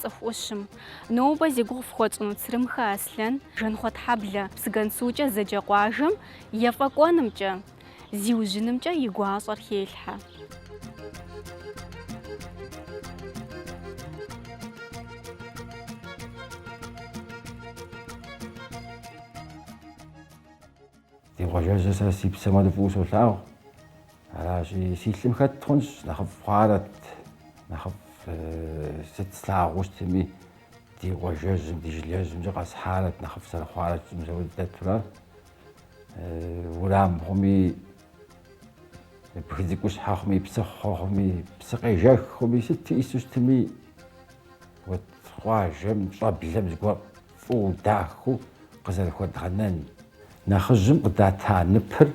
Цӏыху ӏущым. Нобэ зи гугъу фхуэтщӏыну Црымхэ Аслъэн, Жэнхъуэтхьэблэ, Псыгуэнсукӏэ зэджэ къуажэм ефӏэкӏуэнымкӏэ, зиужьынымкӏэ и гуащӏэр хелъхьэ. Ди къуажэжьыр сэ си псэм хуэдэу фӏыуэ солъагъу. Аращи, си лъым хэт хъунщ, нэхъыфӏ хъуарэт, нэхъыфӏ сыт слъагъуу щытми, ди къуажэжьым, ди жылэжьымкӏэ къэсхьарэт, нэхъыфӏ зэрыхъуарэ щытым зэрыуэ дэтурэ. Урам хъуми, бгы цӏыкӏущхьэ хъуми, псыхъуэ хъуми, псы къежэх хъуми, сыт иӏису щытми, вот къуажэм, щӏэблэм зыгуэр фӏыуэ дахэу къызэрыхуэдгъэнэн, нэхъыжьым къыдата ныпыр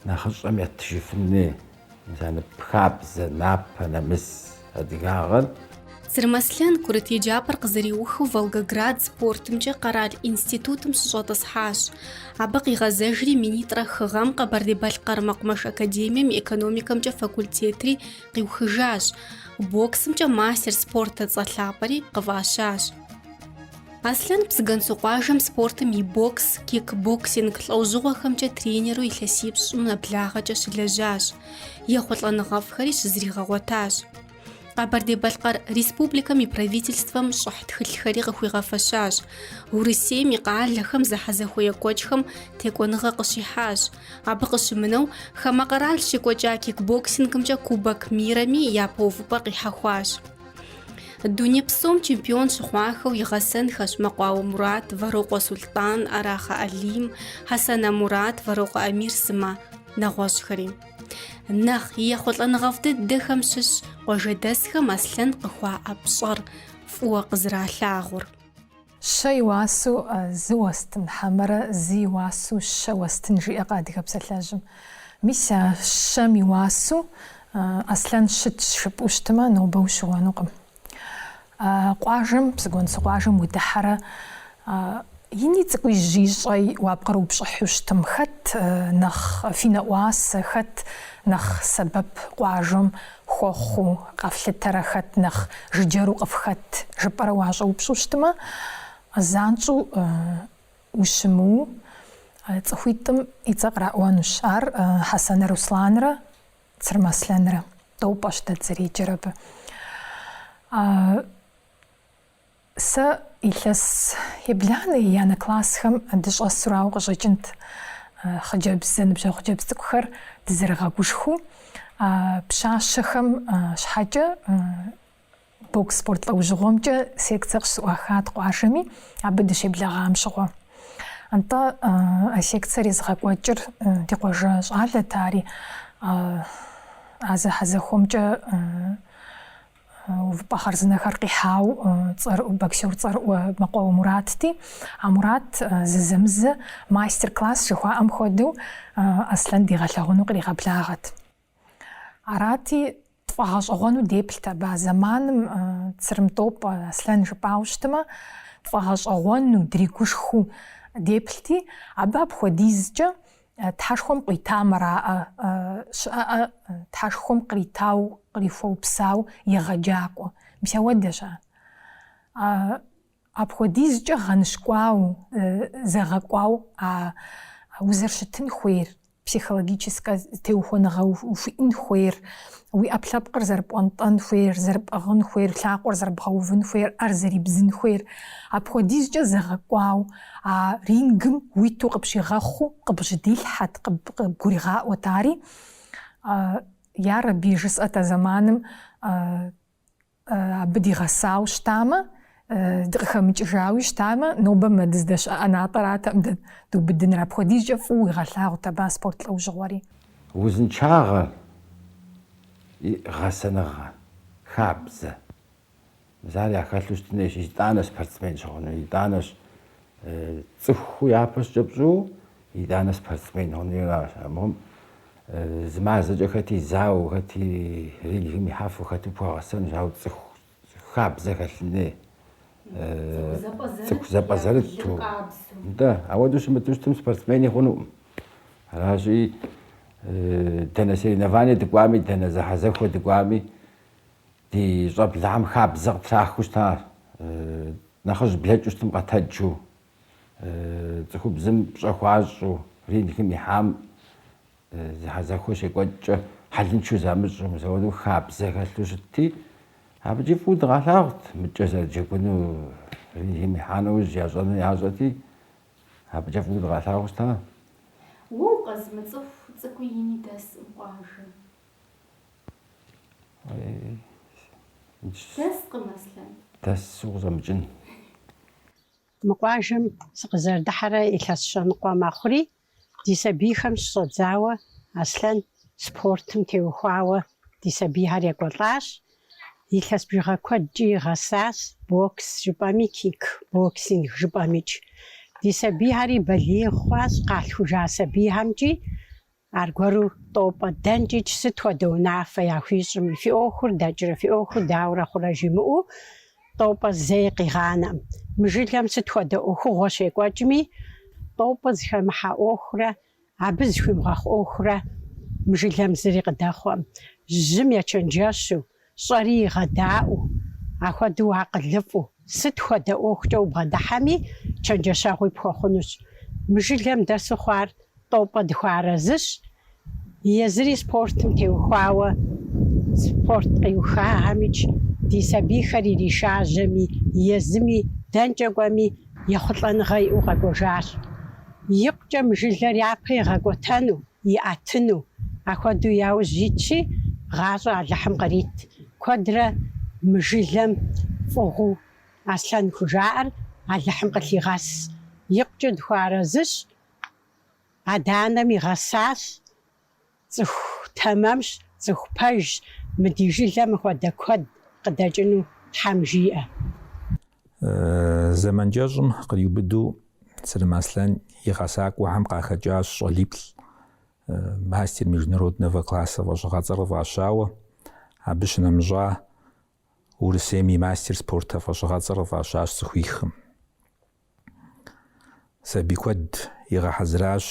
нэхъыщӏэм ятыжыфын хуей мис а ныпыр, хабзэ, напэ, нэмыс адыгагъэр. Црым Аслъэн курыт еджапӏэр къызэриухыу Волгоград спортымкӏэ къэрал институтым щыщӏэтӏысхьащ. Абы къигъэзэжри минитӏрэ хы гъэм Къэбэрдей-Балъкъэр мэкъумэш академием экономикэмкӏэ факультетри къиухыжащ, боксымкӏэ мастер спортэ цӏэ лъапӏэри къыфӏащащ. Аслъэн Псыгуэнсу къуажэм спортым и бокс, кикбоксинг лӏэужьыгъуэхэмкӏэ тренеру илъэсипщӏым нэблагъэкӏэ щылэжьащ, ехъулӏэныгъэфӏхэри щызригъэгъуэтащ. Къэбэрдей-Балъкъэр Республикэм и Правительствэм щӏыхь тхылъхэри къыхуигъэфэщащ, Урысейм и къалэхэм зэхьэзэхуэ екӏуэкӏхэм текӏуэныгъэ къыщихьащ. Абы къыщымынэу, хамэ къэрал щекӏуэкӏа кикбоксингымкӏэ Кубок мирэми япэ увыпӏэ къихьэхуащ. Дуней псом чемпион щыхъуахэу и гъэсэнхэщ Мэкъуауэ Мурат, Вэрокъуэ Сулътӏан, Арахъэ Алим, Хьэсанэ Мурат, Вэрокъуэ Амир сымэ нэгъуэщӏхэри. Нэхъ и ехъулӏэныгъэфӏ дыдэхэм щыщщ къуажэдэсхэм Аслъэн къыхуаӏэ пщӏэр фӏыуэ къызэралъагъур. Щэ и уасэу зы уэстын, хьэмэрэ зы и уасэу щэ уэстын, жиӏэкъэ адыгэ псалъэжьым. Мис а щэм и уасэу Аслъэн щытщ жыпӏэу щытымэ, нобэ ущыуэнукъым. А къуажэм, Псыгуэнсу къуажэм удыхьэрэ, ини цӏыкӏуи, жьыи щӏэи уапкърыупщӏыхьу щытым, хэт нэхъ фи нэӏуасэ, хэт нэхъ сэбэп къуажэм Хуэхъуу къэфлъытэрэ хэт нэхъ жыджэру къыфхэт жыпӏэрэ уащӏэупщӏу щытмэ, занщӏэу ущымыуэу цӏыхуитӏым и цӏэ къраӏуэнущ. Ар Хьэсэнэ Русланрэ Црым Аслъэнрэ. Тӏопӏэщ дэ дызэреджэр абы. Сэ илъэс ебланэ еянэ классхэм дыщӏэсу арауэ къыщӏэкӏынт хъыджэбз, зэныбжьэгъу хъыджэбз цӏыкӏухэр дызэрыгъэгушхуу. А пщащэхэм щхьэкӏэ бокс спорт лӏэужьыгъуэмкӏэ секцэ къыщызӏуахат къуажэми, абы дыщеблэгъам щыгъуэ. Нтӏэ а секцэр езыгъэкӏуэкӏыр ди къуажэ щӏалэт, ари а зэхьэзэхуэмкӏэ Увыпӏэ хъарзынэхэр къихьауэ цӏэрыӏу, боксер цӏэрыӏуэ Мэкъуауэ Муратти, а Мурат зызэмызэ мастер-класс жыхуаӏэм хуэдэу Аслъэн дигъэлъэгъуэну къригъэблагъэт. Арати, тфӏэгъэщӏэгъуэну деплът абы а зэманым Цырым Тӏопӏэ Аслъэн жыпӏауэ щытымэ, тфӏэгъэщӏэгъуэну, дригушхыу деплъти, абы апхуэдизкӏэ Тхьэшхуэм къуитамэ араӏэ, щыӏэӏэ Тхьэшхуэм къритауэ, кърихуэупсауэ егъэджакӏуэ. Мис ауэдэщ ар. Апхуэдизкӏэ гъэныщкӏуауэ, зэгъэкӏуауэ а узэрыщытын хуейр, психологическэ теухуэныгъэ ухуиӏэн хуейр, уи ӏэпкълъэпкъыр зэрыпӏуэнтӏэн хуейр, зэрыпӏыгъын хуейр, лъакъуэр зэрыбгъэувын хуейр, ӏэр зэрыбдзын хуейр. Апхуэдизкӏэ зэгъэкӏуауэ. А рингым уиту къыпщигъэхъуу къыбжьэдилъхьэт, къыбгуригъаӏуэт ари. Ярэби, жысӏэт а зэманым абы дигъэсауэ щытамэ, дыкъыхэмыкӏыжауи щытамэ, нобэ мы дыздэщыӏэ ӏэнатӏэратэкъым дэ дубыдыныр. Апхуэдизкӏэ фӏыуэ уигъэлъагъут абы а спорт лӏэужьыгъуэри. Узыншагъэ, гъэсэныгъэ, хабзэ, Мис ар яхэлъу щытын хуейщ, итӏанэ спортсмен щыхъуну, итӏанэщ цӏыху япэщӏыкӏэ пщӏу, итӏанэ спортсмен хъуну аращ. Абыхэм зы мазэкӏэ хэти зауэ, хэти рингым ихьэфу хэти пхуэгъэсэнущ, ауэ цӏыху хабзэ хэлъын хуей, цӏыху зэпӏэзэрыту. Нтӏэ, ауэдэу щымыту щытым спортсмени хъунукъым. Аращи, дэнэ соревнование дыкӏуами, дэнэ зэхьэзэхуэ дыкӏуами, Ди щӏэблэхэм хабзэ къытрахыу щыта нэхъыжь блэкӏыу щытым къэтэджу, цӏыхубзым пщӏэ хуащӏу, рингым ихьам зэхьэзэхуэ щекӏуэкӏкӏэ хьэлыншэу замыщӏу, мис ауэу хабзэ хэлъу щытти, абыкӏи фӏыуэ дыкъалъагъут мыкӏэ зэрыджэгуну, рингым ихьа нэужь ящӏэну ящӏэти, абыкӏэ фӏыуэ дыкъалъагъуу щыта. Уэ укъэзымыцӏыху цӏыкӏуи ини дэскъым къуажэ. Дэскъым, Аслъэн. Дэсу къызэмыкӏын. Мы къуажэм сыкъызэрыдыхьэрэ илъэс щэныкъуэ мэхъури, ди сабийхэм щыщӏэдзауэ Аслъэн спортым теухуауэ ди сабийхэр екӏуэлӏащ. Илъэс бжыгъэ куэдкӏи игъэсащ, бокс жыпӏэми, кик боксинг жыпӏэмикӏ. Ди сабийхэри балигъ хъуащ, къалъхужа сабийхэмкӏи Аргуэру тӏопӏэ, дэнкӏикӏ сыт хуэдэ унафэ яхуищӏми, фи ӏуэхур дэкӏрэ, фи ӏуэхур дауэрэ хъурэ жимыӏэу тӏопӏэ зэи къигъанэкъым. Мы жылэм сыт хуэдэ ӏуэхугъуэ щекӏуэкӏми, тӏопӏэ зыхэмыхьэ ӏуэхурэ абы зыхуимыгъэхъу ӏуэхурэ мы жылэм зыри къыдэхъуэкъым. Жьым ечэнджэщу, Щӏэри игъэдаӏуэу, ахуэдэу акъылыфӏу, сыт хуэдэ ӏуэхукӏэ убгъэдыхьэми, чэнджэщэгъуи пхуэхъунущ. Мы жылэм дэсу хъуар тӏопӏэ дыхуэарэзыщ. Езыри спортым теухуауэ, спорт къиухахэмикӏ, ди сабийхэр иришажьэми, езыми, дэнкӏэ кӏуэми, ехъулӏэныгъэ иӏэу къэкӏуэжащ. Икъукӏэ мы жылэр япэ игъэкӏуэтэну, иӏэтыну, ахуэдэу яужь итщи, гъащӏэ Алыхьым кърит. Куэдрэ мы жылэм фӏыгъуу Аслъэн хужаӏэр Алыхьым къылъигъэс. Икъукӏэ дыхуэарэзыщ, адэ-анэм игъэсащ, цӏыху тэмэмщ, цӏыху пэжщ, мы ди жылэм мыхуэдэ куэд къыдэкӏыну Тхьэм жиӏэ. Зэман кӏэщӏым къриубыдэу Сырым Аслъэн и гъэсакӏуэхэм къахэкӏащ щӏалиплӏ мастер международного класса фӏэщыгъэцӏэр къыфӏащауэ, абы щынэмыщӏа Урысейм и мастер спорта фӏэщыгъэцӏэр къыфӏащащ цӏыхуихым. Сабий куэд игъэхьэзыращ.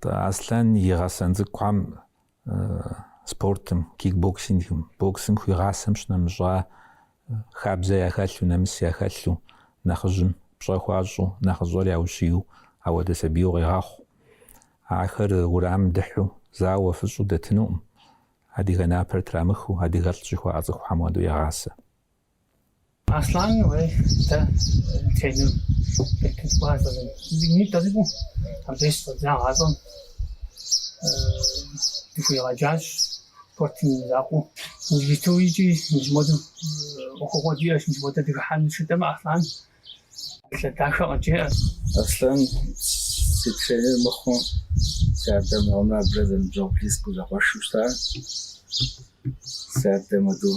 Аслъэн и гъэсэн цӏыкӏухэм спортым, кикбоксингым, боксым хуигъасэм щынэмыщӏа хабзэ яхэлъу, нэмыс яхэлъу, нэхъыжьым пщӏэ хуащӏу, нэхъыщӏэр яущию, ахуэдэ сабийуэ къегъэхъу. Ахэр урамым дыхьу, зауэу, фыщӏу дэтынукъым, адыгэ напэр трамыхыу, адыгэлӏ жыхуаӏэ цӏыхухэм хуэдэу егъасэ. Аслъан уей дэ тренер къитыткӏуар фӏызым. Зыми тӏэзыӏу абы щӏэдза гъащӏэм дыхуигъэджащ спортым и закъуэу. Узиту икӏи мис модэу ӏуэхугъуэ диӏэщ, мис модэ дыхыхьэн жытӏэмэ Аслъан псалъэ дахэ къыджеӏэ. Аслъан сыт хуейми мыхъуу си адэ мыгъуэм абрэ зэныбжьэгъу близкэу зэкъуэшу щытар. Си адэ модэу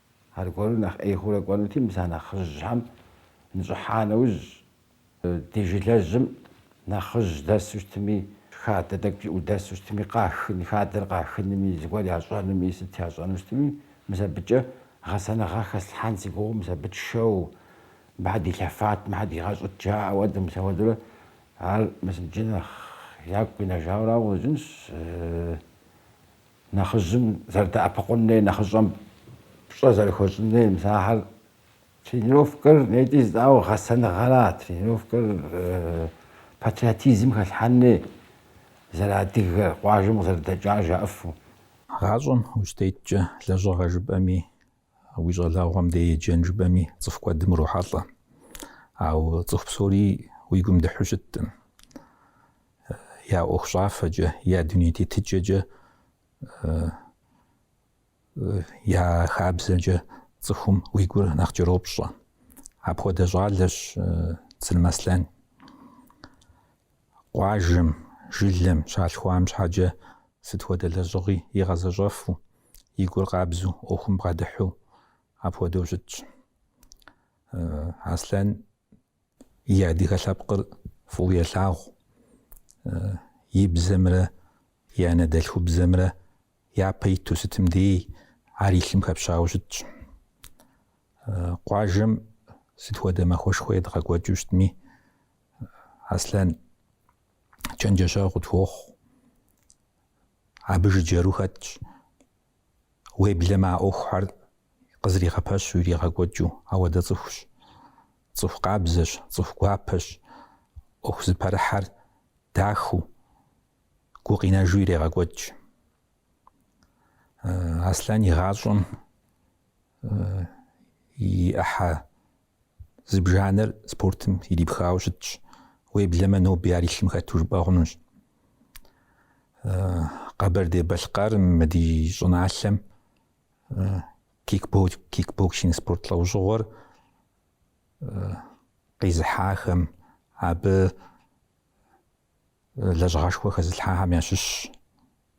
Аргуэру нэхъ ӏей хъурэ кӏуэнути, мис а нэхъыжьхэм нщӏыхьа нэужь, ди жылэжьым нэхъыжь дэсу щытми, хадэ тӏэкӏу иӏэу дэсу щытми, къахын, хадэр къахынми, зыгуэр ящӏэнуми, сыт ящӏэну щытми, мис абыкӏэ гъэсэныгъэ хэслъхьэн си гугъэу, мис абы тшэу, мыхьэ дилъэфат, мыхьэ дигъэщӏыт жаӏэу, ауэдэу мис ауэдурэ, ар мис иджы нэхъ ягу къинэжауэ арауэ къыщӏэкӏынщ. Нэхъыжьым зэрыдэӏэпыкъун хуей нэхъыщӏэм пщӏэ зэрыхуэщӏын хуей мис ахьэр тренировкэр нетӏи жытӏауэ гъэсэныгъэра, тренировкэр патриотизм хэлъхьэн хуей зэрыадыгэр, къуажэм къызэрыдэкӏар жаӏыфу. Гъащӏэм ущытеткӏэ лэжьыгъэ жыпӏэми Уи щӏалэгъуэм дей еджэн жыпӏэми цӏыху куэдым урохьэлӏэ. Ауэ цӏыху псори уи гум дыхьу щыттым. Я ӏуэху щӏафэкӏэ, я дуней тетыкӏэкӏэ, я хабзэкӏэ цӏыхум уи гур нэхъ кӏэропщӏэ. Апхуэдэ щӏалэщ Црым Аслъэн. Къуажэм, жылэм, щалъхуам щхьэкӏэ сыт хуэдэ лэжьыгъи игъэзэщӏэфу, и гур къабзу, ӏуэхум бгъэдыхьу апхуэдэу щытщ. Аслъэн и адыгэ лъэпкъыр фӏыуэ елъагъу, и бзэмрэ и анэдэлъхубзэмрэ япэ иту сытым дей ар и лъым хэпщауэ щытщ. Къуажэм сыт хуэдэ махуэшхуэ едгъэкӏуэкӏыу щытми, Аслъэн чэнджэщэгъу къытхуохъу. Абы жыджэру хэтщ. Уеблэмэ а ӏуэхухэр къызэригъэпэщу иригъэкӏуэкӏыу, ауэдэ цӏыхущ. Цӏыху къабзэщ, цӏыху гуапэщ. ӏуэху зыпэрыхьэр дахыу, гукъинэжу ирегъэкӏуэкӏ. Аслъэн и гъащӏэм и ӏыхьэ Зыбжанэр спортым ирипхауэ щытщ. Уеблэмэ ноби ар и лъым хэту жыпӏэ хъунущ. Къэбэрдей-Балъкъэрым мы ди щӏыналъэм кикбоксинг спорт лӏэужьыгъуэр къизыхьахэм абы Лэжьыгъэшхуэ хэзылъхьахэм ящыщщ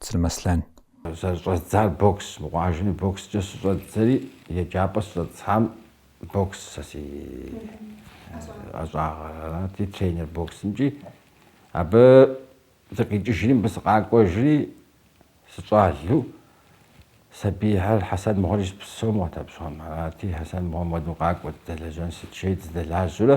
Црым Аслъэн. Зэрыщӏэздзар бокс, мы къуажэми бокскӏэ щыщӏэддзэри, еджапӏэ сыщӏэтӏысхьам бокс сэ си ӏэщӏагъэрати, тренер боксымкӏи. Абы сыкъикӏыжри, мыбы сыкъакӏуэжри, сыщӏалу, сабийхэр Хьэсэн мыгъуэр ищӏ псом къэтэпщӏам. Арати, Хьэсэн мыгъуэм мыдэ къакӏуэт, дэлэжьэн сыт жейт, сыдэлажьэурэ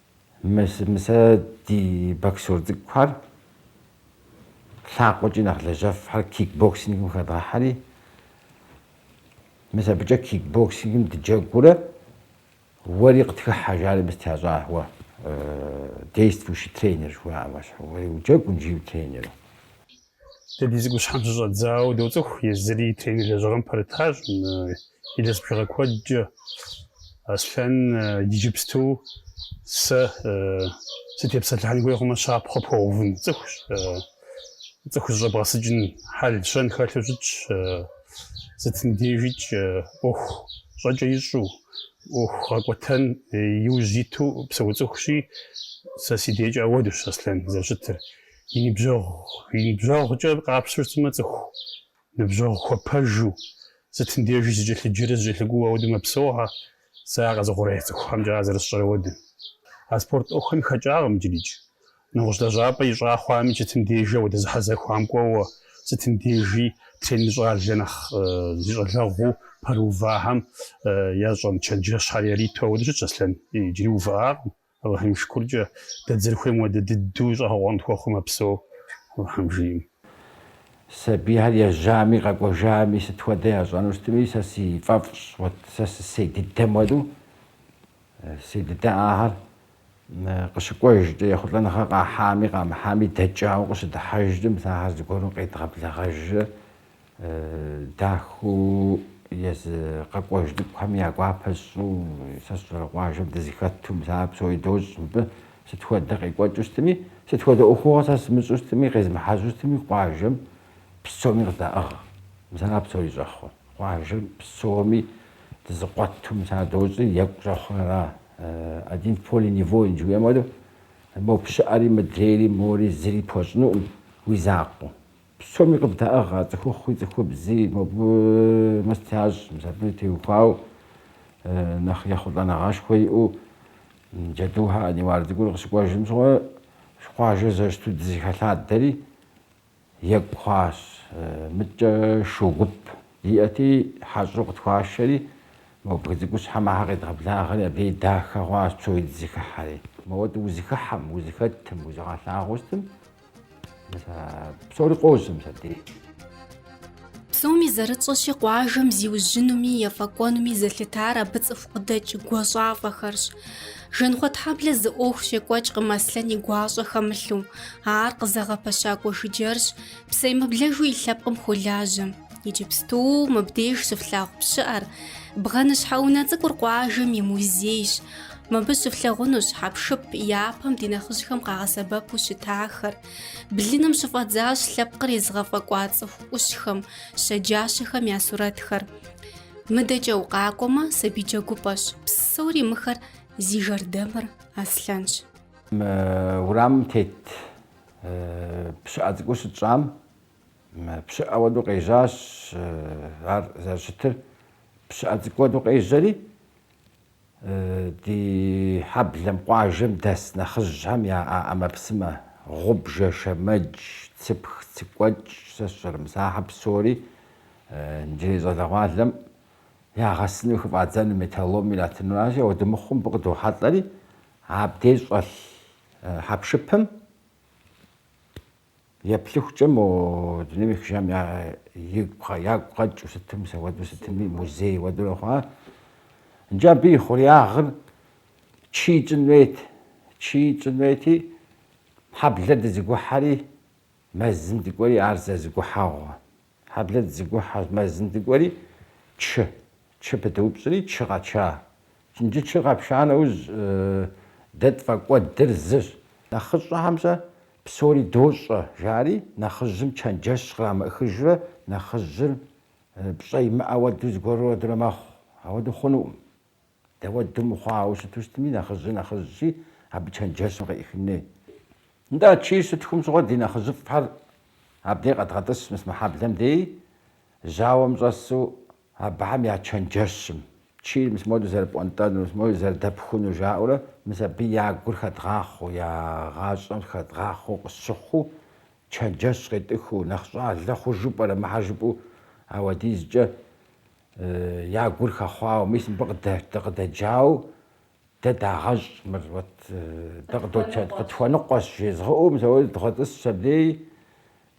Мис а ди боксёр цӏыкӏухэр лъакъуэкӏи нэхъ лэжьэфхьэр кикбоксингым хэдгъэхьэри, мис абыкӏэ кикбоксингым дыджэгурэ уэри къытхыхьэ жари мис тящӏауэ действующий тренер жыхуаӏэм ещхьу, уэри уджэгу, икӏи утренеру. Дэ ди цӏыкӏущхьэм щыщӏэдзауэ доцӏыху, езыри и тренер лэжьыгъэм пэрытащ. Илъэс бжыгъэ куэдкӏэ Аслъэн иджыпсту сэ сытепсэлъыхьын хуей хъумэ, щапхъэ пхуэувын цӏыхущ. Цӏыху зыщӏэбгъэсыкӏын хьэл-щэн хэлъу щытщ, сытым дежикӏ ӏуэху щӏэкӏэ ищӏу, ӏуэху гъэкӏуэтэн иужь иту псэу цӏыхущи, сэ си декӏэ ауэдущ Аслъэн зэрыщытыр. И ныбжьэгъу, и ныбжьэгъукӏэ къапщту щытмэ, цӏыху ныбжьэгъу хуэпэжу, сытым дежи зыкӏэлъыджэрэ зыкӏэлъыкӏуэу ауэдэу мэпсэугъэ, сэ а къэзыухъуреихь цӏыхухэмкӏэ ар зэрысщӏэр ауэдэу. А спорт ӏуэхухэм хэкӏакъым иджырикӏ. Нэгъуэщӏ лэжьапӏэ ищӏа хъуами, сытым дежи ауэдэ зэхьэзэхуэм кӏуэуэ, сытым дежи тренер щӏалэ нэхъ зи щӏалэгъуу пэрыувахэм ящӏэн чэнджэщхьэр яриту ауэдэу щытщ Аслъэн, иджыри увыӏакъым. Алыхьым и шыкуркӏэ, дэ дызэрыхуейм хуэдэ дыдэу щӏэгъэкъуэн тхуэхъуу мэпсэу, Алыхьым жиӏэм. Сабийхэр ежьами, къэкӏуэжами, сыт хуэдэ ящӏэну щытми, сэ си фӏэфӏщ, уэт сэ сысей дыдэм хуэдэу, си дыдэ ахэр къыщыкӏуэжкӏэ, ехъулӏэныгъэ къахьами, къамыхьами, дэкӏауэ къыщыдыхьэжкӏэ, мис ахэр зыгуэру къедгъэблэгъэжрэ, Дахэу езы къэкӏуэж цӏыкӏухэм я гуапэ сщӏу, сэ сщӏэрэ къуажэм дызэхэту, мис ар псори дощӏ мыбы, сыт хуэдэ къекӏуэкӏыу щытми, сыт хуэдэ ӏуэхугъуэ сэ сымыщӏу щытми, къезмыхьэжьу щытми, къуажэм псоми къыздаӏыгъ. Мис ара псори щӏэхъур? Къуажэм псоми дызэкъуэту, мис ар дощӏи, екӏу щӏэхъур ара? Один в поле не воин, жыхуиӏэм хуэдэу, мобы щыӏэри, мыдрейри, мори зыри пхуэщӏынукъым уи закъуэу. Псоми къыбдаӏыгъ а цӏыхухъуи цӏыхубзи, мобы мэст ящӏ, мис абы теухуау нэхъ ехъулӏэныгъэшхуэ иӏэу Джэдухэ Аниуар цӏыкӏур къыщыкӏуэжым щыгъуэ къуажэ зэрыщыту дызэхэлъадэри екӏу хъуащ. Мыдкӏэ шу гуп диӏэти, хьэщӏэу къытхуашэри, мо бгы цӏыкӏущхьэм ахэр къедгъэблагъэри, абы и дахэ хъуащ псори дызэхыхьэри. Моуэ-тӏэ узэхыхьэм, узэхэтым, узыгъэлъагъуэу щытым? Псори къозым сэтей. Псоми зэрытщӏэщи, къуажэм зиужьынуми ефӏэкӏуэнуми зэлъытар абы цӏыху къыдэкӏ гуащӏафӏэхэрщ. Жэнхъуэтхьэблэ зы ӏуэху щекӏуэкӏкъым Аслъэн и гуащӏэ хэмылъу, ар къызэгъэпэщакӏуэ жыджэрщ, псэемыблэжу и лъэпкъым хуолажьэ. Иджыпсту мыбдеж щыфлъагъу пщыӏэр бгъэныщхьэ унэ цӏыкӏур къуажэм и музейщ. Мыбы щыфлъагъунущ хьэпшып япэм ди нэхъыжьхэм къагъэсэбэпу щытахэр. Блыным щыфӏэдзащ лъэпкъыр езыгъэфӏэкӏуа цӏыху ӏущхэм, щэджащэхэм я сурэтхэр. Мыдэкӏэ укъакӏуэмэ, сабий джэгупӏэщ. Псори мыхэр зи жэрдэмыр Аслъэнщ. Мы урамым тет пщыӏэ цӏыкӏур щытщӏам Пщыӏэ уэду къежьащ ар зэрыщытыр, пщыӏэ цӏыкӏу уэду къежьэри, ди хьэблэм къуажэм дэс нэхъыжьхэм я ӏэмэпсымэ, гъубжэ, шэмэдж, цыпх, цыкӏуэкӏ, сэ сщӏэрэ, мыс ахьэ псори иджырей щӏалэгъуалэм ягъэсыну, хыфӏадзэну, металлом иратыну аращи, ауэдэ мыхъуу мыбы къыдохьэлӏэри, абдеж щӏэлъ хьэпшыпым Еплъыхукӏэ мо дунейм ехыжам ягу къэкӏыу сытым, мыс ауэду сытми, музей уэдурэ хъуа. Иджы абы и хъуреягъыр чий тщӏын хуейт. Чий тщӏын хуейти, хьэблэр дызыгухьэри, мэзым дыкӏуэри, ар зэзыгухьэгъуэ. Хьэблэр дызыгухьэ мэзым дыкӏуэри, чы. Чы пыдыупщӏри, чы къэтша. Иджы чы къэпша нэужь, дэ тфӏэкӏуэдыр зыщ. Нэхъыщӏэхэм-щэ псори дощӏэ, жари, нэхъыжьым чэнджэщ кърамыӏыхыжрэ нэхъыжьыр пщӏэ имыӏэ уэду зыгуэру уэдурэ мэхъу. Ауэду хъунуӏым. Дауэду мыхъуауэ щыту щытми, нэхъыжьи нэхъыжьщи, абы чэнджэщым къеӏыхын хуей. Нтӏэ, чийр щытхум щыгъуэ ди нэхъыжьыфӏхэр абдей къэдгъэтӏыс мыс мы хьэблэм дей, жьауэм щӏэсу абыхэм я чэнджэщым чийр мыс моду зэрыпӏуэнтӏэнур, мыс моду зэрыдэпхунур жаӏэурэ, мыс абы я гур хэдгъахъуэу, я гъащӏэм хэдгъахъуэу къысщыхъуу, чэнджэщ къетӏыхыу, нэхъ щӏалэ хъужу пӏэрэ мыхьэ жыпӏэу ауэдизкӏэ Я гур хэхъуауэ, мис мыбы къыдэджауэ дэ дагъэщӏ мыр, уэт дэ къыдотет, къытхуэныкъуэщ, жезгъыӏэу мыс ауэду дгъэтӏысщ абдей.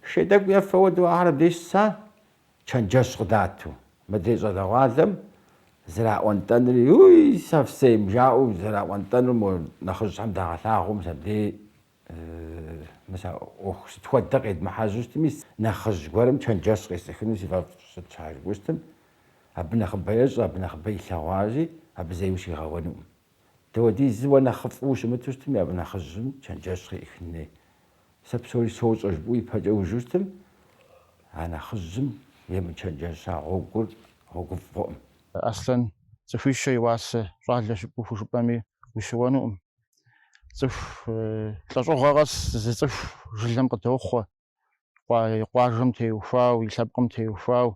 Шей тӏэкӏу ефэ уэдэу ахэр абдеж щыса, чэнджэщ къыдату, мыдрей щӏалэгъуалэм зэраӏуэнтӏэнури, Уй, совсем, жаӏэу зэраӏуэнтӏэнур мо нэхъыжьхэм дагъэлъагъу мыс абдей Мис а ӏуэху сыт хуэдэ къедмыхьэжьу щытми, нэхъыжь гуэрым чэнджэщ къесӏыхыну си фӏэфӏщ, сыт щхьэ жыпӏэу щытым, абы нэхъыбэ ещӏэ, абы нэхъыбэ илъэгъуащи, абы зэи ущригъэуэнукъым. Дауэдизу уэ нэхъыфӏу ущымыту щытми, абы нэхъыжьым чэнджэщ къеӏыхын хуей. Сэ псори сощӏэ, жыпӏэу ипэкӏэ ужу щытым, а нэхъыжьым емычэнджэща гъуэгур гъуэгуфӏ хъуӏым. Аслъэн цӏыхуищэ и уасэ щӏалэщ жыпӏэу хужыпӏэми, ущыуэнукъым. цӏыху лӏэщӏыгъуэ къэс зы цӏыху жылэм къыдохъуэ, къуажэм теухуау, и лъэпкъым теухуау,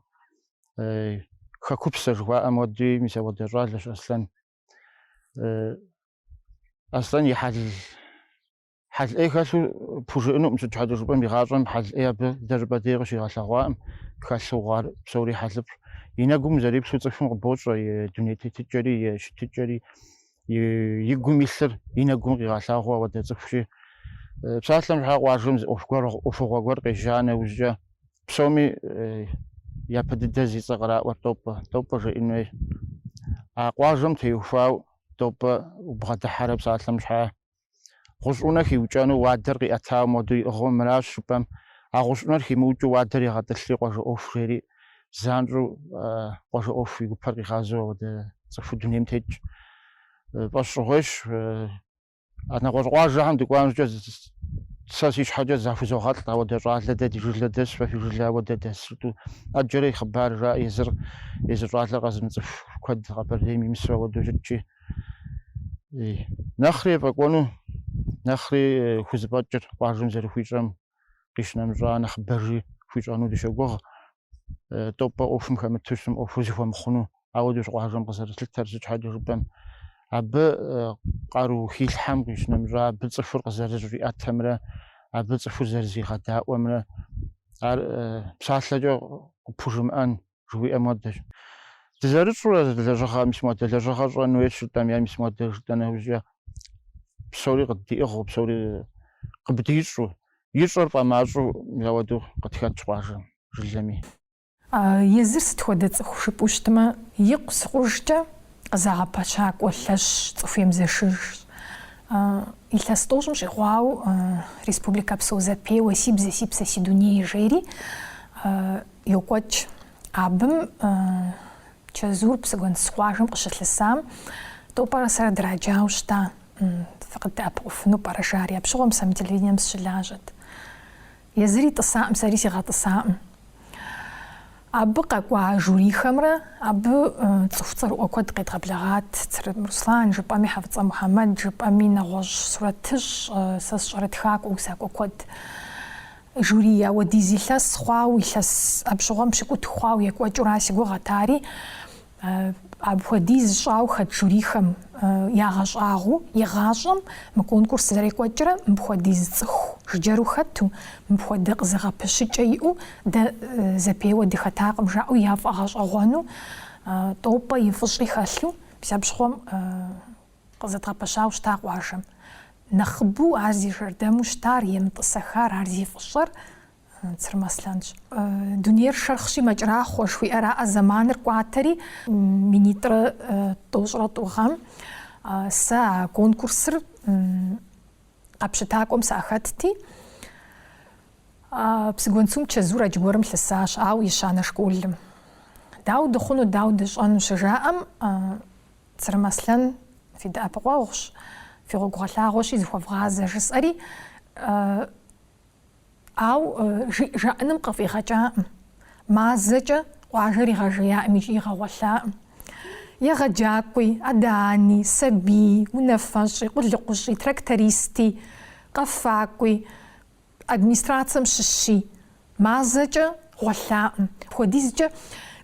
хэкупсэ жыхуаӏэм хуэдуи мис ауэдэ щӏалэщ Аслъэн. Аслъэн и хьэл хьэл ӏей хэлъу пхужыӏэнуӏым, сыт щхьэкӏэ жыпӏэм игъащӏэм хьэл ӏей абы дэ жыпӏэ дей къыщигъэлъэгъуаӏым, хэлъу хъуар псори хьэлыфӏщ. И нэгум зэриплъу цӏыхум къыбощӏэ и дуней тетыкӏэри, и щытыкӏэри, и гум илъыр и нэгум къигъэлъагъуу ауэдэ цӏыхущи. Псалъэм щхьа къуажэм зы ӏуэху гуэр, ӏуэхугъуэ гуэр къежьа нэужькӏэ, псоми япэ дыдэ зи цӏэ къраӏуэр Тӏопӏэ, Тӏопӏэ жеӏэн хуей. А къуажэм теухуау Тӏопӏэ убгъэдыхьэрэ псалъэм щхьа Гъущӏунэ хиукӏэну уадэр къиӏэтауэ моду иӏыгъыу мыращ жыпӏэм, а гъущӏунэр химыукӏыу уадэр егъэтӏылъри къуажэ ӏуэху жери, занщӏэу къуажэ ӏуэху и гупэр къигъазэу ауэдэ цӏыхуу дунейм тетщ. Фӏэщщӏыгъуейщ, а нэгъуэщӏ къуажэхэм дыкӏуам щӏыкӏэ сэ си щхьэкӏэ захузогъэлӏ ауэдэ щӏалэ дэ ди жылэ дэс, фэ фи жылэ ауэдэ дэс жытӏу. Ӏэджэрэ и хъыбар жаӏэ езыр, езы щӏалэр къэзымыцӏыху куэд Къэбэрдейм имысу ауэдэу щытщи. нэхъри ефӏэкӏуэну нэхъри э, хузэфӏэкӏыр къуажэм зэрыхуищӏэм къищынэмыщӏа нэхъыбэжи хуищӏэну дыщогугъ э, Тӏопӏэ ӏуэхум хэмыту щытым ӏуэхур зыхуэмыхъуну ауэдущ къуажэм къызэрилъытэр сыт щхьэкӏэ жыпӏэм абы э, къару хилъхьэм къищынэмыщӏа абы цӏыхур къызэрыщӏиӏэтэмрэ абы цӏыхур зэрызигъэдаӏуэмрэ ар э, псалъэкӏэ къыпхужымыӏэн жыхуиӏэм хуэдэщ. Дызэрыщӏурэ лэжьыгъэ мис модэ, лэжьыгъэ щӏэн хуейщ жытӏэм е мис модэ жытӏа нэужькӏэ псори къыддиӏыгъыу, псори къыбдищӏу, ищӏэр фӏэмащӏэу ауэду къытхэтщ къуажэм, жылэми. Езыр сыт хуэдэ цӏыху жыпӏу щытмэ, икъусыкъужкӏэ къызэгъэпэщакӏуэ лъэщщ, цӏыху емызэшыжщ. Илъэс тӏощӏым щӏигъуау республикэпсо зэпеуэ Си бзэ, си псэ, си дуней жери Йокӏуэкӏ абым чэзур Псыгуэнсу къуажэм къыщылъысам, Тӏопӏэрэ сэрэ драджауэ щыта, фыкъыддэӏэпыкъуфыну пӏэрэ жари? Апщыгъуэм сэ мы телевидением сыщылажьэт. Езыри тӏысаӏым, сэри сигъэтӏысаӏым. Абы къэкӏуа жюрихэмрэ абы цӏыху цӏэрыӏуэ куэд къедгъэблэгъат, Црым Руслан жыпӏэми, Хьэфӏыцӏэ Мухьэмэд жыпӏэми, нэгъуэщӏ сурэтыщӏ, сэ сщӏэрэ тхакӏуэ, усакӏуэ куэд. Жюри ауэдиз илъэс хъуау, илъэс апщыгъуэм пщыкӏутху хъуау екӏуэкӏура си гугъэт ари. Апхуэдиз щӏау хэт жюрихэм ягъэщӏагъуэу, игъащӏэм мы конкурс зэрекӏуэкӏрэ мыпхуэдиз цӏыху жыджэру хэту, мыпхуэдэ къызэгъэпэщыкӏэ иӏэу дэ зэпеуэ дыхэтакъым жаӏэу яфӏэгъэщӏэгъуэну Тӏопӏэ и фӏыщӏи хэлъу мис апщыгъуэм Къызэдгъэпэщауэ щыта къуажэм. Нэхъыбэу ар зи жэрдэму щытар, емытӏысэхар, ар зи фӏыщӏэр Цырым Аслъэнщ. Дунейр шэрхъщи, мэкӏрахъуэ, жыхуиӏэраӏэ, зэманыр кӏуатэри, минитӏрэ тӏощӏрэ тӏу гъэм сэ а конкурсыр къэпщытакӏуэм сахэтти, Псыгуэнцум чэзур аргуэрым лъысащ, ауэ ещанэ школым. Дауэ дыхъуну, дауэ дыщӏэну щыжаӏэм, Цырым Аслъэн, фи дэӏэпыкъуэгъущ, фи гъуэгу гъэлъагъуэщи, зыхуэвгъазэ, жысӏэри, ауэ жи жаӏэным къыфӏигъэкӏакъым. Мазэкӏэ къуажэр игъэжеякъым икӏи игъэгъуэлъакъым. Егъэджакӏуи, адэ-ани, сабий, унафэщӏи, къулыкъущӏи, трактористи, къэфакӏуи, Администрацэм щыщи, мазэкӏэ гъуэлъакъым. Апхуэдизкӏэ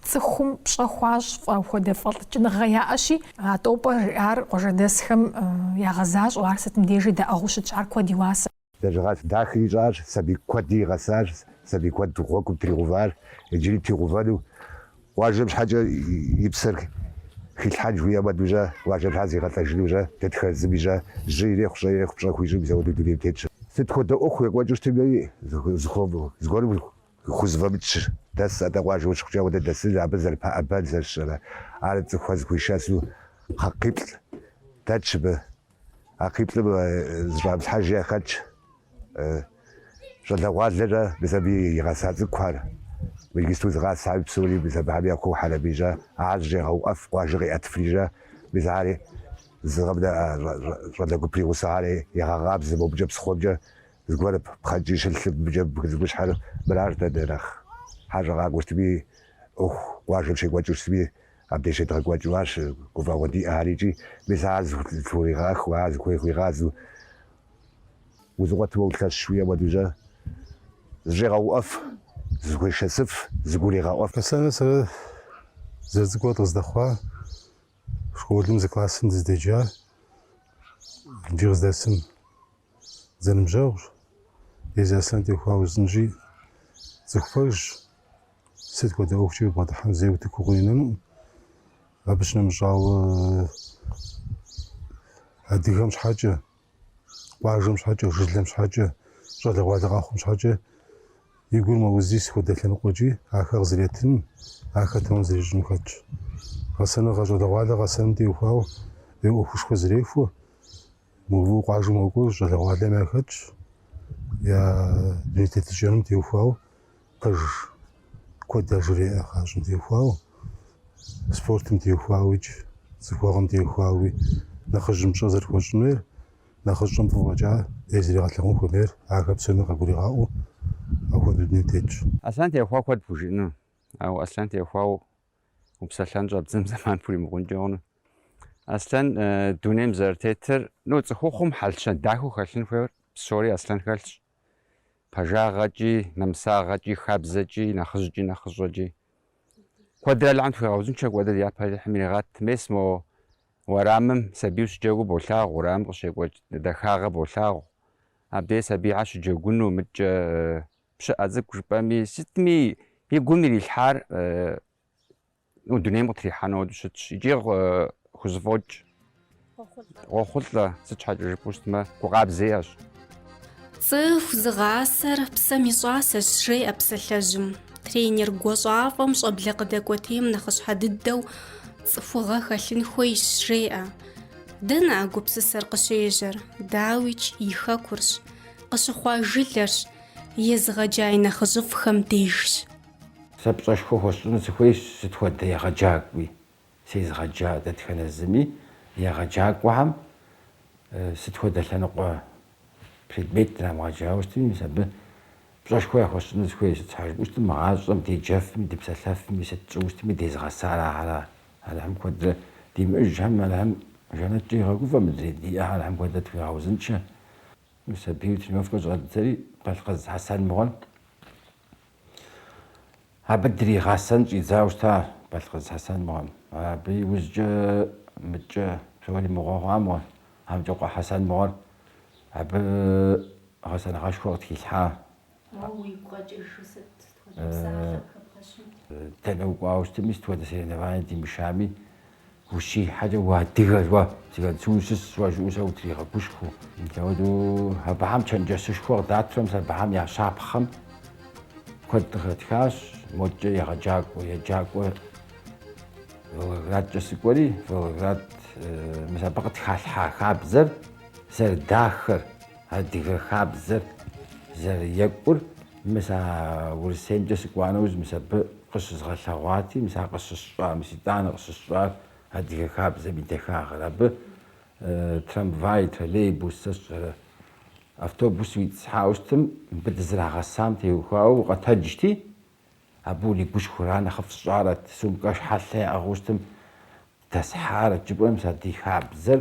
цӏыхум пщӏэ хуащӏ фӏэ хуэдэ фӏэлӏыкӏыныгъэ яӏэщи, а Тӏопӏэ жиӏар къуажэдэсхэм ягъэзащӏэу, ар сытым дежи даӏыгъыу щытщ, ар куэд и уасэ. Лэжьыгъэ дахэ ищӏащ, сабий куэди игъэсащ, сабий куэд гъуэгум тригъэуващ, иджыри тригъэувэну Къуажэм щхьэкӏэ и псэр хилъхьэн жыхуиӏэ хуэдэу щӏэ, къуажэм щхьэ зигъэлӏэжыну щӏэ, дэтхэ зыми щӏэ, жьы ирехъу, щӏэ ирехъу, пщӏэ хуищӏу мис ауэдэу дунейм тетщ. Сыт хуэдэ ӏуэху екӏуэкӏыу щытми, зыгуэрым хузэфӏэмыкӏщ, дэс, атӏэ къуажэу щыхъукӏэ ауэдэ дэсыж, абы зэрыпэӏэбэн зэрыщӏэрэ, ар цӏыхухэм зыхуишэсу кхъэ, кхъиплӏ дэтщ мыбы. А кхъиплӏым зыщӏамылъхьэж яхэтщ щӏалэгъуалэкӏэ мис абы игъэса цӏыкӏухэр, иджыпсту зыгъасари псори, мис абыхэм я куу хьэрэбийкӏэ ахэр зыщӏегъэуӏэф, къуажэ къиӏэтыфри щӏэ, мис ари зыгъэм щӏалэ гуп и гъусэхэри егъэкъабзэ мобыкӏэ псыхъуэмкӏэ, зыгуэр пхъэнкӏий щылъым, мыбыкӏэ бгы цӏыкӏущхьэр мыращ дэ нэхъ хьэщӏэ къакӏуэу щытми, ӏуэху къуажэм щекӏуэкӏыу щытми, Абдеж щедгъэкӏуэкӏыу арщ гуфӏэгъуэ диӏэхэр икӏи, мис ар зэлъыӏуригъэхыу, ар зыхуей хуигъазэу, узэкъуэтмэ улъэщщ жыхуиӏэ хуэдэу щӏэ, зыщӏегъэуӏэф, зыхуешэсыф, зэгурегъэӏуэф. Аслъэнрэ сэрэ дызэрыцӏыкӏурэ дыкъыздэхъуа, школым зы классым дыздеджа, иджы къыздэсым. зэныбжьэгъущ, езы Аслъэн теухуауэ узынщӏи, цӏыху пэжщ, сыт хуэдэ ӏуэхукӏи убгъэдыхьэми зэи утыку къыуинэнукъым. Абы щынэмыщӏауэ, адыгэм щхьэкӏэ, къуажэм щхьэкӏэ, жылэм щхьэкӏэ, щӏалэгъуалэ къэхъум щхьэкӏэ и гур мэузи, сыт хуэдэ лъэныкъуэкӏи ахэр къызэриӏэтыным, ахэр тэмэм зэрищӏыным хэтщ. Гъэсэныгъэ, щӏалэгъуалэ гъэсэным теухуауэ е ӏуэхушхуэ зэрехуэ, Мыбы къуажэм къэкӏуэу щӏалэгъуалэм яхэтщ, я дуней тетыкӏэным теухуауэ, пэж куэд яжреӏэ гъащӏэм теухуауэ, спортым теухуауикӏ, цӏыхуэгъэм теухуауи, нэхъыжьым пщӏэ зэрыхуэщӏын хуейр, нэхъыщӏэм фӏы фӏэкӏа ӏей зэригъэлъэгъун хуэмейр, ахэр псоми къагуригъаӏуэу апхуэдэу дунейм тетщ. Аслъэн теухуауэ куэд пхужыӏэну, ауэ Аслъэн теухуауэ Упсэлъэн щӏэбдзэм зэман пхуримыгъункӏэ хъуну. Аслъэн дунейм зэрытетыр, ну, цӏыхухъум хьэл-щэн дахэу хэлъын хуейр псори Аслъэн хэлъщ. Пэжагъэкӏи, нэмысагъэкӏи, хабзэкӏи, нэхъыжькӏи, нэхъыщӏэкӏи. Куэдрэ Алыхьым тхуигъэузыншэ, куэдрэ ди япэ Алыхьым иригъэт. Мес мо уэрамым сабийу щыджэгуу болъагъу, уэрамым къыщекӏуэкӏ дахагъэ болъагъу. Абдей сабийхьэр щыджэгуну, мыдкӏэ Пщыӏэ цӏыкӏу жыпӏэми, сытми и гум ирилъхьар ну дунейм къытрихьэну хуэдэу щытщ икӏи хузэфӏокӏ. Къохъулӏэ, сыт щхьэкӏэ жыпӏэу щытмэ, гу къабзэ иӏэщ. Цӏыху зыгъасэр псэм и щӏасэщ, жеӏэ псалъэжьым. Тренер гуащӏафӏэм щӏэблэ къыдэкӏуэтейм нэхъыщхьэ дыдэу цӏыхугъэ хэлъын хуейщ, жеӏэ. Дэнэ а гупсысэр къыщежьэр? Дауикӏ, и хэкурщ. Къыщыхъуа жылэрщ. Езыгъэджа и нэхъыжьыфӏхэм дежщ. Сэ пщӏэшхуэ хуэсщӏыну сыхуейщ сыт хуэдэ егъэджакӏуи. Сезыгъэджа дэтхэнэ зыми егъэджакӏуэхэм сыт хуэдэ лъэныкъуэ предмет драмыгъэджауэ щытми, мис абы пщӏэшхуэ яхуэсщӏыну сыхуейщ. Сыт щхьэ жыпӏэу щытмэ, мы гъащӏэм деджэфми, дыпсэлъэфми, сыт тщӏыуэ щытми дезыгъэсар ахьэра. Алыхьым куэдрэ димыӏыжхьэм, Алыхьым жэнэткӏэ игъэгуфӏэ мыдрей диӏэхьэр Алыхьым куэдрэ тхуигъэузыншэ. Мис абы тренировкэ щӏэддзэри Балъкъыз Хьэсэн мыгъуэм. Абы дригъэсэн щӏидзауэ щыта Балъкъыз Хьэсэн мыгъуэм. Абы и ужькӏэ мыдкӏэ псори мыгъуэ хъуа мыгъуэ. Амкӏэкъуэ Хьэсэн мыгъуэр абы гъэсэныгъэшхуэ къытхилъхьа Уэ уигу къэкӏыжу сыт, сыт хуэдэ псалъэ къыхэбгъэщын? Дэнэ укӏуауэ щытми, сыт хуэдэ соревнование димышами, ущихьэкӏэ уадыгэ, уэ, Псыгуэнсу ущыщ уэ, жыӏэу сэ утригъэгушхуэу. Мис ауэдэу абыхэм чэнджэщышхуэ къыдатрэ, мис абыхэм я щапхъэм куэд къыхэтхащ. Модкӏэ егъэджакӏуэ, еджакӏуэ Волгоградкӏэ сыкӏуэри, Волгоград, мис абы къытхалъхьа хабзэр зэрыдахэр, Адыгэ хабзэр зэрыекӏур мис а Урысеймкӏэ сыкӏуа нэужь мис абы къыщызгъэлъэгъуати, мис ар къыщысщӏар, мис итӏанэ къыщысщӏар адыгэ хабзэм и дахагъэр. Абы трамвай, троллейбус, сэ сщӏэрэ, автобус уитӏысхьауэ щытым, мыбы дызэрагъэсам теухуауэ укъэтэджти, абы уригушхуэра, нэхъыфӏ сщӏарэт, сумкэ хьэлъэ яӏыгъыу щытым, дэсхьарэт жыпӏэмэ, мис а ди хабзэр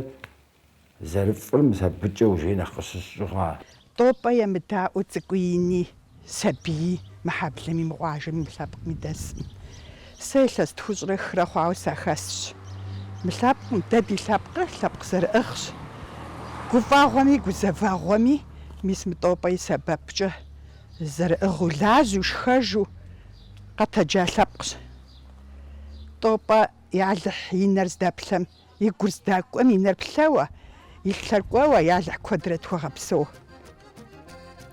Зэрыфӏыр мис абыкӏэ ужьей нэхъ къыщысщӏыгъуа? Тӏопӏэ емыдаӏуэу цӏыкӏуи ини, сабии, мыхьэблэми, мы къуажэми, мы лъэпкъми дэсӏым. Сэ илъэс тхущӏрэ хырэ хъуауэ сахэсщ. Мы лъэпкъым, дэ ди лъэпкъыр лъэпкъ зэрыӏыгъщ. Гуфӏэгъуэми, гузэвэгъуэми, мис мы Тӏопӏэ и сэбэпкӏэ зэрыӏыгъыу лажьэу, шхэжу къэтэджа лъэпкъщ. Тӏопӏэ ялыхь и нэр здэплъэм И гур здакӏуэм и нэр плъэуэ, и лъэр кӏуэуэ, ялыхь куэдрэ тхуэгъэпсэу.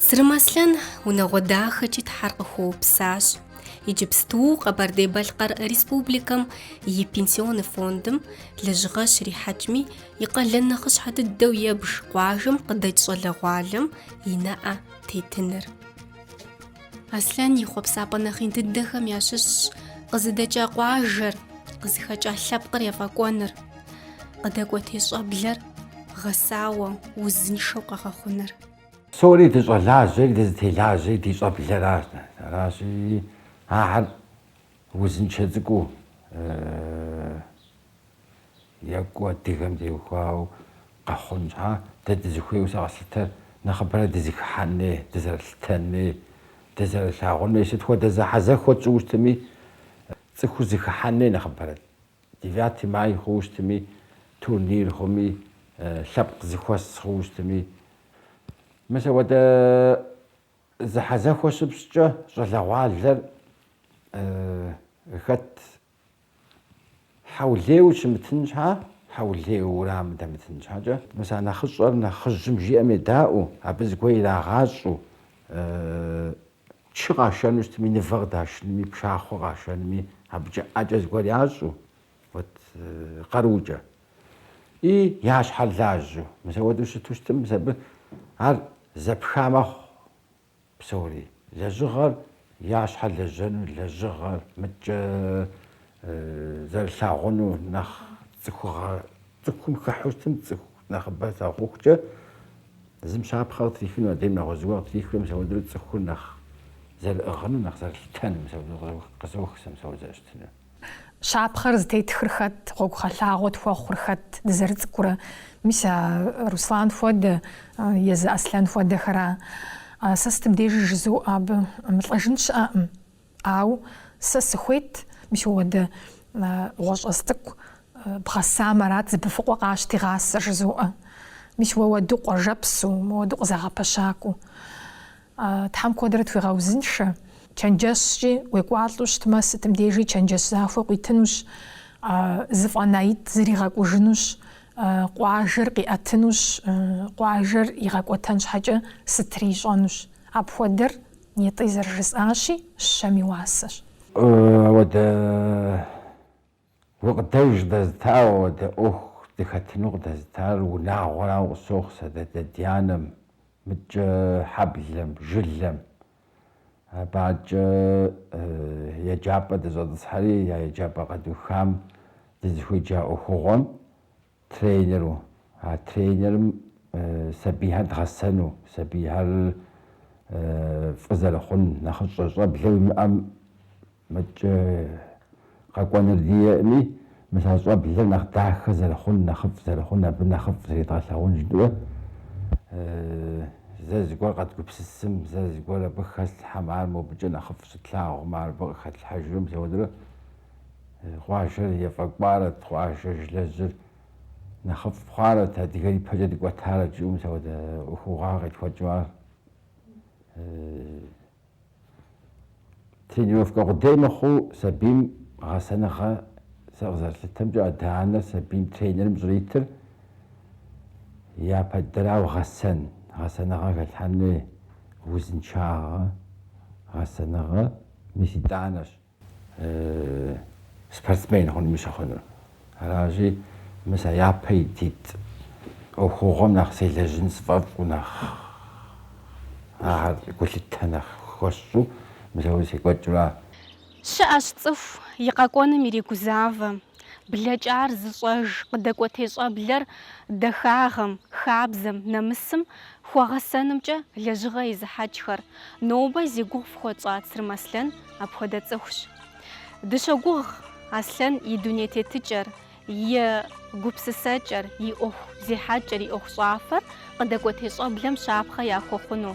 Сырым Аслъэн унагъуэ дахэкӏи Тхьэр къыхуэупсащ. Иджыпсту Къэбэрдей-Балъкъэр Республикэм и Пенсионный фондым лэжьыгъэ щрихьэкӏми, и къалэн нэхъыщхьэ дыдэу ебж къуажэм къыдэкӏ щӏалэгъуалэм и нэӏэ тетыныр. Аслъэн и хъуэпсапӏэ нэхъ ин дыдэхэм ящыщщ къызыдэкӏа къуажэр, къызыхэкӏа лъэпкъыр ефӏэкӏуэныр, къыдэкӏуэтей щӏэблэр гъэсауэ, узыншэу къэгъэхъуныр. Псори дыщӏэлажьэри дызытелажьэри ди щӏэблэращ. Аращи, ахэр узыншэ цӏыкӏуу, Екӏуу адыгэм теухуауэ къэхъун щхьа, дэ дызыхуейуэ сэ къэслъытэр нэхъыбэрэ дызэхыхьэн хуей, дызэрылъытэн хуей, дызэрылъагъун хуей, сыт хуэдэ зэхьэзэхуэ тщӏыуэ щытми, цӏыхур зэхыхьэн хуей нэхъыбэрэ. Девятый май хъууэ щытми, турнир хъуми, лъэпкъ зыхуэс хъууэ щытми. Мис апхуэдэ зэхьэзэхуэ щыпщӏкӏэ щӏалэгъуалэр хэт Хьэулеу щымытын щхьа, хьэулеу урамым дэмытын щхьэкӏэ, мис а нэхъыщӏэр нэхъыжьым жиӏэм едаӏуэу, абы зыгуэр ирагъащӏэу, чы къашэну щытми, нывэ къыдашынми, пшахъуэ къашэнми, абыкӏэ ӏэкӏэ зыгуэр ящӏэу, вот къарукӏэ. И я щхьэр лажьэу. Мис ауэдэу щыту щытым, мис абы ар зэпха мэхъу. псори. Лэжьыгъэр я щхьэ лэжьэну, лэжьыгъэр мыдкӏэ зэрылъагъуну нэхъ цӏыхугъэ цӏыхум хыхьу щытым, цӏыху нэхъыбэ слъагъухукӏэ зым щапхъэ къытрихыну, адрейм нэгъуэщӏ зыгуэр къытрихыну, мис ауэдэу цӏыхур нэхъ зэрыӏыгъыну, нэхъ зэрылъытэну, мис апхуэдэу къызох сэ мис апхуэдэ зэрыщытыну. Щапхъэр зытетхыр хэт, гъуэгугъэлъагъуэ тхуэхъур хэт, дызэрыцӏыкӏурэ? Мис а Руслан хуэдэ езы Аслъэн хуэдэхэра? Сэ сытым дежи жызоӏэ абы, мылӏэжын щыӏэкъым. Ауэ сэ сыхуейт, мис уэ уэдэ бгъуэщӏэс цӏыкӏу бгъэсам арат зыбыфыкъуэ къащти гъасэ жызоӏэ. Мис уэ уэду къуажэпсу, уэ уэду къызэгъэпэщакӏуэу. Тхьэм куэдрэ тхуигъэузыншэ. Чэнджэщкӏи уекӏуалӏэу щытмэ, сытым дежи чэнджэщ захуэ къуитынущ, зэфӏэнаитӏ зригъэкӏужынущ, къуажэр къиӏэтынущ, къуажэр игъэкӏуэтэн щхьэкӏэ сытри ищӏэнущ. Апхуэдэр, нетӏи зэрыжысӏащи, щэм и уасэщ. Ауэдэ. Гукъыдэж къыдэзытауэ, ауэдэ ӏуэху дыхэтыну къыдэзытар унагъуэрауэ къысохъу сэ, ди адэ-ди анэм, мыкӏэ хьэблэм, жылэм. Абы акӏэ еджапӏэ дыщӏэтӏысхьэри, я еджапӏэ къэдухам дызыхуеджа ӏуэхугъуэм Тренеру, а тренерым сабийхэр дгъэсэну, сабийхэр фӏы зэрыхъун, нэхъыщӏэ щӏэблэ уимыӏэм мыкӏэ къэкӏуэныр диӏэӏыми, мис а щӏэблэр нэхъ дахэ зэрыхъун, нэхъыфӏ зэрыхъун, абы нэхъыфӏ зридгъэлъагъун жыӏэу, зэ зыгуэр къэдгупсысым, зэ зыгуэр абы хэслъхьэм, ар мобыкӏэ нэхъыфӏ щытлъагъум, ар абы къыхэтлъхьэжым, мис ауэдэурэ. Къуажэр ефӏэкӏуарэт, къуажэр, жылэжьыр нэхъыфӏ хъуарэт, адыгэр ипэкӏэ дыкӏуэтарэт жыӏэу мис ауэдэ ӏуэхугъуэ къетхуэкӏыу ар. Тренировкэ къудей мыхъуу сабийм гъэсэныгъэ, сэ къызэрыслъытэмкӏэ адэ-анэр сабийм тренерым щӏритыр япэ дыдэрауэ гъэсэн, гъэсэныгъэ хэлъхьэн хуей, узыншагъэ, гъэсэныгъэ, мис итӏанэщ. спортсмен хъунми щыхъунур. Аращи, мис а япэ ититӏ ӏуэхугъуэм нэхъ селэжьын сфӏэфӏу, нэхъ ахэр гулъытэ нэхъ хуэсщӏу мис ауэ секӏуэкӏыу ара. Щыӏэщ цӏыху и къэкӏуэным иригузавэ, Блэкӏар зыщӏэж къыдэкӏуэтей щӏэблэр дахагъэм, хабзэм, нэмысым хуэгъэсэнымкӏэ лэжьыгъэ езыхьэкӏхэр. Нобэ зи гугъу фхуэтщӏа Цырым Аслъэн апхуэдэ цӏыхущ. Дыщогугъ Аслъэн и дуней тетыкӏэр, и гупсысэкӏэр, и ӏуэху зехьэкӏэр, и ӏуэхущӏафэр къыдэкӏуэтей щӏэблэм щапхъэ яхуэхъуну.